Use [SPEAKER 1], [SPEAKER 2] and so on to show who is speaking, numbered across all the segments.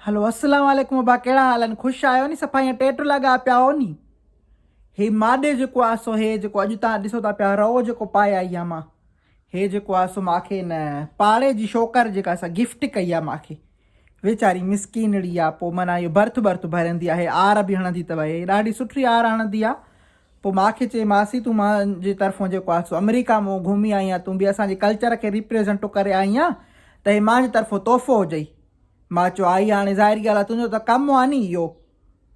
[SPEAKER 1] هلو السلام عليڪم ابا ڪهڙا حال آهن خوش آهيو ني صفا ائين ٽيٽ لاڳايا پيا هئو ني هي ماڏي جيڪو آهي سو هي جيڪو اڄ تان ڏسو ٿا پيا رئو جيڪو پائي آئي آهيان مان هي جيڪو آهي سو ماکي نه پاڙي جي شوڪر جيڪا سا گفٽ ڪئي آهي ماکي ويچاري مسڪينڙي آهي پوء معنيٰ اهو برٿ برٿ ڀرندي آهي آر به هڻندي اٿئي ڏاڍي سٺي آر هڻندي آهي پوء مان کي چئي مانسي تون مان جي طرفون جيڪو آهي سو امريڪا مون گهمي آئي آهين تون به اسان جي ڪلچر کي ريپريزنٽو ڪري آئي آهين ته هي مان جي طرفون تحفو هجئي مان چيو آئي هاڻي ظاهري ڳالهه آهي تنهنجو ته ڪم آهي ني اهو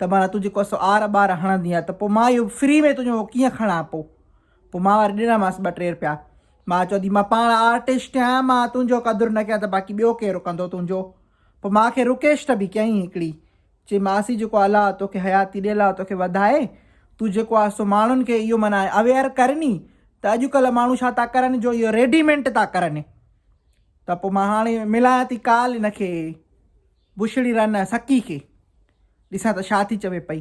[SPEAKER 1] ته معنيٰ تون جيڪو سو آر ٻار هڻندي آهي ته پوء مان اهو فري ۾ تنهنجو اهو ڪيئن کڻان پوء پوء مان وري ڏنا مانس ٻه ٽي رپيا مان چيو ٿي مان پاڻ آرٽسٽ آهيان مان تنهنجو قدر نه ڪيان ته باقي ٻيو ڪير ڪندو تنهنجو پوء ماء کي رڪيشٽ به ڪيائين هڪڙي. چي ماسي جيڪو الا توکي حياتي ڏي الا توکي وڌائي. تون جيڪو آ سو ماڻهن کي اهو معنيٰ اويئر ڪر ني ته اڄڪلهه ماڻهو ڇا ٿا ڪرن جو اهو ريڊيمينٽ ٿا ڪرن. ته پوء مان هاڻي ملان ٿي ڪال ان کي بڇڙي رن سڪي کي. ڏسان ته ڇا ٿي چوي پئي.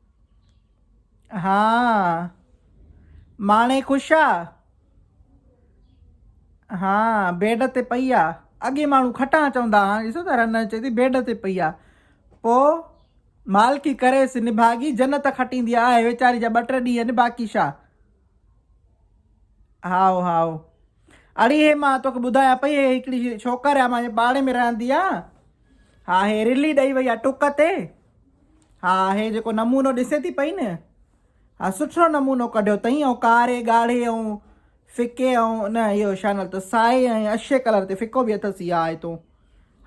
[SPEAKER 1] ها ماڻي خوش آ. ها بيڊ تي پئي آ. اڳي ماڻهو کٽان چوندا هان ڏسو ته رنه چي ٿي بيڊ تي پئي آ پو مالڪي ڪريس نڀاڳي جنت کٽيندي آ آهي ويچاري جا ٻه ٽي ڏينهن آهن باقي شا هائو هائو اڙي هي مان توکي ٻڌايان پئي هي هڪڙي ڇوڪر آ مانجي پاڙي ۾ رهندي آ ها هي رلي ڏئي وئي آ ٽڪ تي ها هي جيڪو نمونو ڏسين ٿي پئي نه، ها سٺو نمونو ڪڍيو اٿئي ۽ ڪاري، ڳاڙهي ۽ ڦڪي ۽ نه اهو شا نالو اٿس سائي ۽ اشي ڪلر تي ڦڪو به اٿس اها آهي تون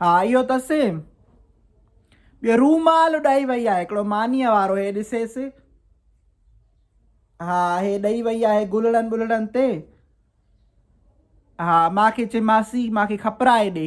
[SPEAKER 1] ها اهو اٿس ٻيو رومال ڏئي وئي آهي هڪڙو مانيء وارو هي ڏسيس ها هي ڏئي وئي آهي گلڙن بلڙن تي ها ماکي چي ماسي ماکي کپرائي ڏي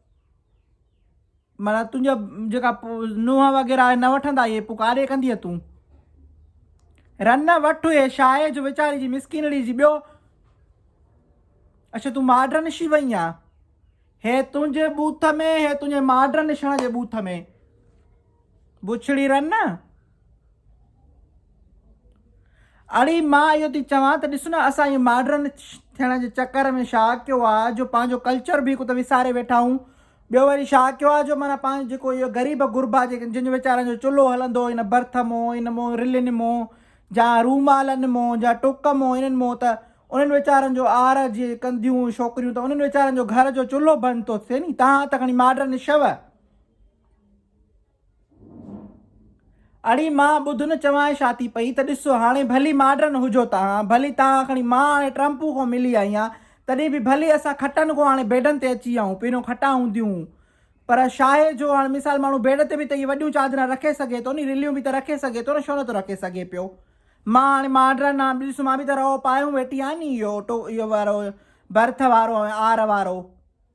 [SPEAKER 1] معنيٰ تنهنجا جيڪا نونهن وغيره آهي نه وٺندا اهي پوء ڪاڏي ڪندينء تون؟ رن وٺ اهي شاهه جو ويچاري جي مسڪينڙي جي ٻيو اڇا تون ماڊرن شي وئي آ هي تنهنجي بوٿ ۾ هي تنهنجي ماڊرن شڻ جي بوٿ ۾ بڇڙي رن اڙي مان اهو ٿي چوان ته ڏس نه اسان اهي ماڊرن ٿيڻ جي چڪر ۾ شا ڪيو آ جو پنهنجو ڪلچر به هڪ ته وساري ويٺا آهون ٻيو وري شا ڪيو آ جو معنيٰ پنهنجو جيڪو اهي غريب غربا جيڪي جن جو ويچارن جو چلهو هلندو ان برٿ مون ان مون رلين مون جا رومالن مون جا ٽوڪ مون انهن مون ته انهن ويچارن جو آر جي ڪنديون ڇوڪريون ته انهن ويچارن جو گهر جو چلهو بند ٿو ٿئي ني تهان ته کڻي ماڊرن شو اڙي مان ٻڌ نه چوانء ڇا ٿي پئي ته ڏسو هاڻي ڀلي ماڊرن هجو تهان ڀلي تهان کڻي مان هاڻي ٽرمپون کان ملي آئي آهيان تڏهن به ڀلي اسان کٽن کان هاڻي بيڊن تي اچي آئون پهريون کٽان هونديون هون پر شاهي جو هاڻي مثال ماڻهو بيڊ تي به ته اهي وڏيون چادران رکي سگهي ٿو ني رليون به ته رکي سگهي ٿو نه ڇو نه ٿو رکي سگهي پيو مان هاڻي ماڊرن آهيان ڏس مان به ته رئو پايون ويٺي آهيان ني اهو ٽو اهو وارو برٿ وارو آر وارو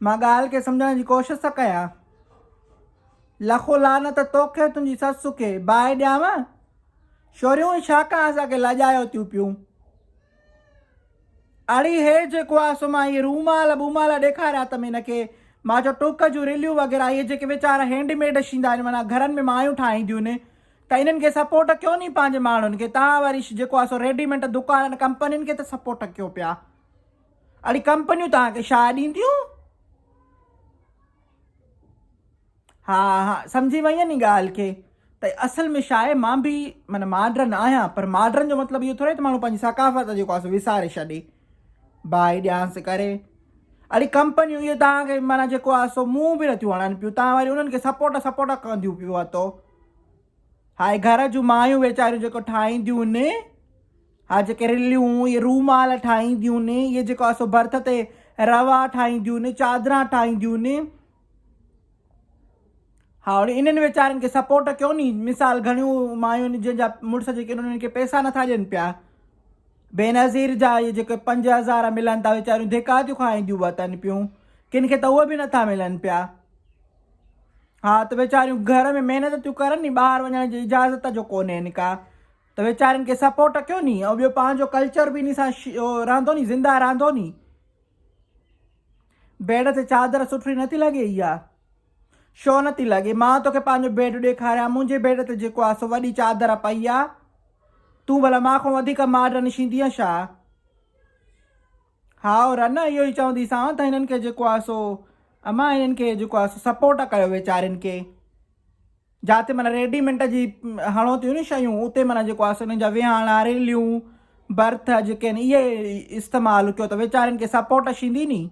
[SPEAKER 1] مان ڳالهه کي سمجهڻ جي ڪوشش ٿا ڪيان. لکو لعنت توکي ۽ تنهنجي سس کي. باهه ڏيانء؟ شوريون هي ڇا ڪان اسان کي لاڄايو ٿيون پيون. اڙي هي جيڪو آ سو مان اهي رومال ٻومال ڏيکاريا تم هن کي. مان چيو ٽوڪ جون رليون وغيره اهي جيڪي ويچارا هينڊ ميڊ شيندا آهن معنيٰ گهرن ۾ مايون ٺاهينديون آهن ته انهن کي سپورٽ ڪيو ني پنهنجي ماڻهن کي تان وري جيڪو آ سو ريڊيمينٽ دڪانن ڪمپنين کي ته سپورٽ ڪيو پيا. اڙي ڪمپنيون توهان کي شاهه ڏينديون. ها ها سمجهي وئين ني ڳالهه کي ته اصل ۾ شاهه مان به من ماڊرن آهيان پر ماڊرن جو مطلب اهو ٿوري ته ماڻهو پنهنجي ثقافت جيڪو آهي سو وساري ڇڏي باهي ڏيانس ڪري اڙي ڪمپنيون اهي توهان کي مانا جيڪو آهي سو منهن به نٿيون هڻن پيون توهان واري انهن کي سپورٽ سپورٽ ڪنديون پيو وتو هاء گهر جون مايون ويچاريون جيڪو ٺاهينديون ان هاء جيڪي رليون اهي رومال ٺاهينديون ان اهي جيڪو اسو برٿ تي روا ٺاهينديون ان چادران ٺاهينديون ان ها هاڻي انهن ويچارن کي سپورٽ ڪيو ني مثال گهڻيون مايون جن جا مڙس جيڪي انهن کي پيسا نٿا ڏين پيا بينظير جا اهي جيڪي پنج هزار ملن ٿا ويچاريون ڌڪا ٿيون کائينديون وتن پيون ڪن کي ته اهي به نٿا ملن پيا ها ته ويچاريون گهر ۾ محنت ٿيون ڪرن ني ٻاهر وڃڻ جي اجازت جو ڪونهين ڪا ته ويچارين کي سپورٽ ڪيو ني ۽ ٻيو پنهنجو ڪلچر به انهي سان رهندو ني زنده رهندو ني بيڊ تي چادر سٺي نٿي لڳي اها شو نٿي لڳي مان توکي پنهنجو بيڊ ڏيکاريان منهنجي بيڊ تي جيڪو آ سو وڏي چادر پئي آ تون ڀلا مان کان وڌيڪ ماڊرن شيندينء ڇا هائو رنه اهو ئي چوندي سان ته هنن کي جيڪو آهي سو امان هنن کي جيڪو آهي سو سپورٽ ڪيو ويچارين کي جاتي معنيٰ ريڊيمنٽ جي هڻو ٿيون ني شيون اتي معنيٰ جيڪو آهي سو هنن جا ويهاڻا ريليون برٿ جيڪي آهن اهي استعمال ڪيو ته ويچارين کي سپورٽ شيندي ني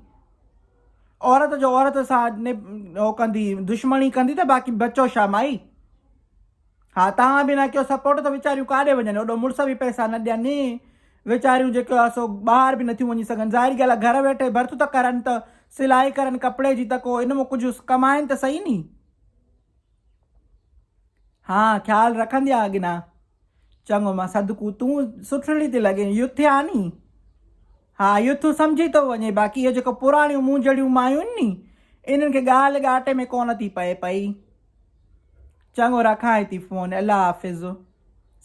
[SPEAKER 1] عورت جو عورت سان هو ڪندي دشمني ڪندي ته باقي بچو شا مائي ها توهان به نه ڪيو سپورٽ ته ويچاريون ڪاڏي وڃن اوڏو مڙس به پئسا نه ڏين ني ويچاريون جيڪو آ سو ٻاهر به نٿيون وڃي سگهن ظاهر ڳالهه آ گهر ويٺي برت ته ڪرن ته سلائي ڪرن ڪپڙي جي ته ڪو ان مان ڪجهه ڪمائن ته سهي ني ها خيال رکندي آ اڳنا چڱو مان صدقو تون سٺڙي تي لڳين يوٿ آ ني ها يوٿ سمجهي ٿو وڃي باقي اهي جيڪو پراڻيون مونجهڙيون مايون ني انهن کي ڳالهه ڳاٽي ۾ ڪونه ٿي پئي پئي چڱو رکانء ٿي فون. الله حافظ.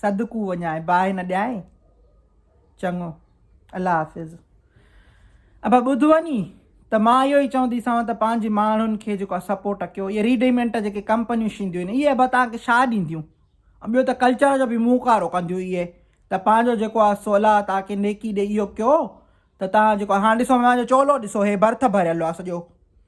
[SPEAKER 1] صدقو وڃانء باهه نه ڏيانء. چڱو الله حافظ. ابا ٻڌو ني ته مان اهو ئي چونديسانو ته پنهنجي ماڻهن کي جيڪو آهي سپورٽ ڪيو اهي ريڊيمينٽ جيڪي ڪمپنيون شينديون آهن اهي ابا توهان کي ڇا ڏينديون ۽ ٻيو ته ڪلچر جو به موڪارو ڪنديون اهي ته پنهنجو جيڪو آهي سو الله توهان کي نيڪي ڏي اهو ڪيو ته توهان جيڪو هاڻ ڏسو مانجو چولو ڏسو هي برٿ ڀريل آهي سڄو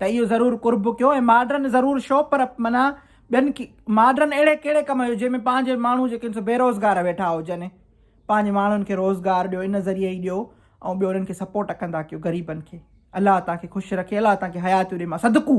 [SPEAKER 1] ته اهو ضرور قرب ڪيو ۽ ماڊرن ضرور شو پر معنيٰ ٻين ماڊرن اهڙي ڪهڙي ڪم جو جنهن ۾ پنهنجي ماڻهو جيڪي آهن سو بيروزگار ويٺا هجن پنهنجي ماڻهن کي روزگار ڏيو ان ذريعي ئي ڏيو ۽ ٻيو انهن کي سپورٽ ڪندا ڪيو غريبن کي الله توهان کي خوش رکي الله توهان کي حياتيون ڏي مان صدقو